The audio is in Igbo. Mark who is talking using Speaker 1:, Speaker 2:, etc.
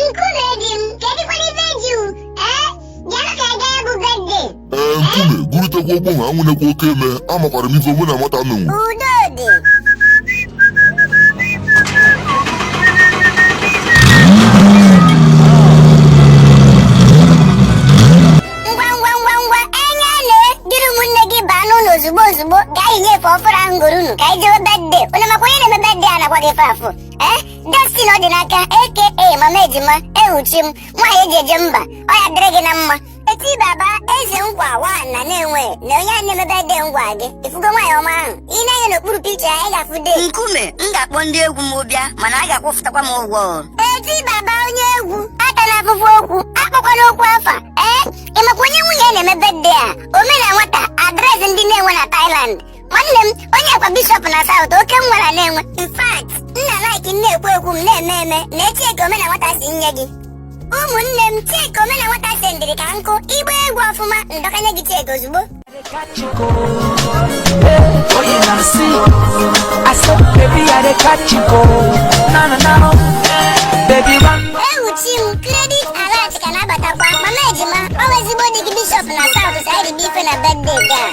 Speaker 1: Nkume di m, kedụkwana ibe ji u? Ee, bịanụ ka anyị gaa ya bụ bedde. ee nkume gurutekwa ogbo ha anwụnekwa oke eme amakwara m ife mụ na nwata menwu
Speaker 2: Udo dị. Ngwa ngwa ngwa ngwa Anyaele duru ụmụnne gị baa n'ụlọ ozugbo ozugbo gaa yinye efe ọfụrụ ahụ m gooro unu ka anyị jewe bedde unu makwa onye na-eme bedde a nakwa gị fe afụ ee Destiny Ọdịnaka aka mama ejima ewu chi m nwaanyị eji eje mba ọ ya-adịrị gị na mma eti baba eze nkwa wa na na-enwe na onye a na-eme bedde ngwa gị ifugo nwaanyị ọma ahụ i nee anya n'okpuru picha ya ị ga-afụ de nkume m
Speaker 3: ga-akpọ ndị egwu m bịa mana a ga-akwụfụtakwa m ụgwọ o. eti
Speaker 2: baba onye egwu atana afụfụ okwu akpọkwana okwu afa ee ịmakwa onye nwunye ya na-eme bedde a omena nwata adreesị ndị na-enwe na Thailand nwanne m onye kwa bishọp na saụt oke m nwara na-enwe in fact nna laik na-ekwu ekwu m na-eme eme nee cheki omena nwata si nye gị ụmụnne m cheki omena nwata sendịrị ka nkụ ị gbaa egwu ọfụma m dọkanye gị cheki ozugbo Oye na si, I said baby I dey catch you go. Na na na, baby run. ewu chi m kredit alat ka na-abatakwa mama ejima ọ bụ ezigbo di gị bishọp na saụt si anyị dị ife na bedde gaa